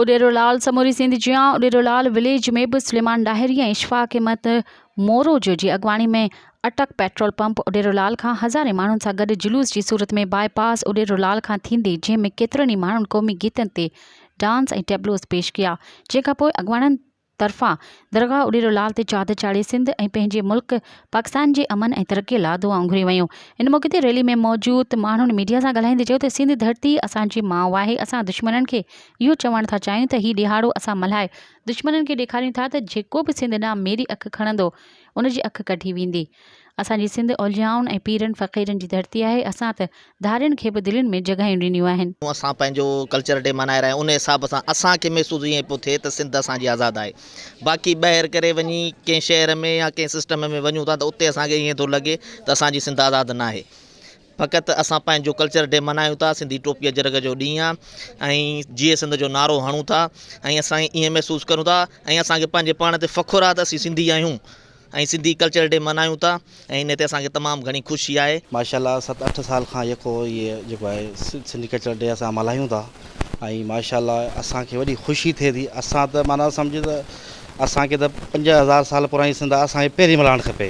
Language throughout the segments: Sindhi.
اڏيرولعل سموري سنڌ جيان اڏيرولعل وليج ۾ به سليمان ڏاهري ۽ اشفاق احمد موروجو جي اڳواڻي ۾ اٽڪ پيٽرول پمپ اڏيرولعل کان هزارين ماڻهن سان گڏ جلوس جي صورت ۾ باء پاس اڏيرولعل کان ٿيندي جنهن ۾ ڪيترن ئي ماڻهن قومي گيتن تي ڊانس ۽ ٽيبلوز پيش ڪيا جنهن کانپوء اڳواڻن طرفان درگاهه اڏيرو لال تي چادر چاڙهي سنڌ ۽ پنهنجي ملڪ پاڪستان جي امن ۽ ترقي لا دعائون گهريون ويون. ان موقعي تي ريلي ۾ موجود ماڻهن ميڊيا سان ڳالهائيندي چيو ته سنڌ ڌرتي اسان جي ماء آهي اسان دشمنن کي اهو چوڻ ٿا چاهيون ته هي ڏيهاڙو اسان ملهائي دشمنن کي ڏيکاريون ٿا ته جيڪو به سنڌ ڏانهن ميري اک کڻندو ان جي اک ڪڍي ويندي. اسان جي سنڌ اوليائن ۽ پيرن فقيرن جي ڌرتي آهي، اسان ته ڌارين کي به دلين ۾ جڳهيون ڏنيون آهن. اسان پنهنجو ڪلچر ڊي منائي رهيا آهيون ان حساب سان اسان کي محسوس ائين پيو ٿئي ته سنڌ اسان جي آزاد آهي باقي ٻاهر ڪري وڃي ڪنهن شهر ۾ يا ڪنهن سسٽم ۾ وڃون ٿا ته اتي اسان کي ائين ٿو لڳي ته اسان جي سنڌ آزاد ناهي. فقط اسان پنهنجو ڪلچر ڊي منايون ٿا سنڌي ٽوپي اجرڪ جو ڏينهن آ ۽ جيئي سنڌ جو نعرو هڻون ٿا ۽ اسان ائين محسوس ڪريون ٿا ۽ اسان کي پنهنجي پاڻ تي فخر آ ته اسين سنڌي آهيون ۽ سنڌي ڪلچر ڊي منايون ٿا ۽ ان تي اسان کي تمام گهڻي خوشي آهي. ماشاءالله ست اٺ سال کان يڪو هي جيڪو آهي سنڌي ڪلچر ڊي اسان ملهايون ٿا ۽ ماشاءالله اسان کي وڏي خوشي ٿئي ٿي اسان ته معنيٰ سمجهه ته اسان کي ته پنج هزار سال پراڻي سنڌ آ اسان کي پهرين ملهائڻ کپي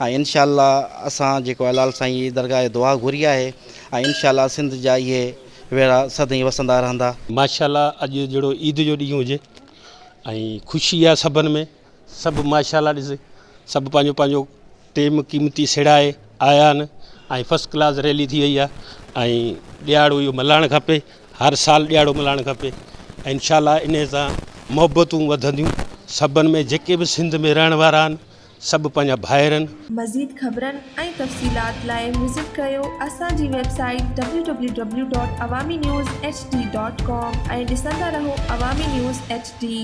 ۽ انشاء الله اسان جيڪو الال سائين جي درگاهه جي دعا گهري آهي ۽ انشاء الله سنڌ جا اهي ويڙها سدائين وسندا رهندا. ماشاء الله اڄ جهڙو عيد جو ڏينهن هجي ۽ خوشي آ سڀن ۾ سڀ ماشاء الله ڏس سڀ پنهنجو پنهنجو ٽيم قيمتي سيڙائي آيا آهن ۽ فسٽ ڪلاس ريلي ٿي وئي آ ۽ ڏيهاڙو اهو ملهائڻ کپي هر سال ڏيهاڙو ملهائڻ کپي انشاء الله انهي سان محبتون وڌنديون سڀن ۾ جيڪي به سنڌ ۾ رهڻ وارا آهن سڀ پنهنجا ڀائرن. مزيد خبرن ۽ تفصيلات لاء وزٽ ڪريو اسان جي website W W W dot Awami news H D dot com ۽ ڏسندا رهو عوامي نيوز ايڇ ڊي.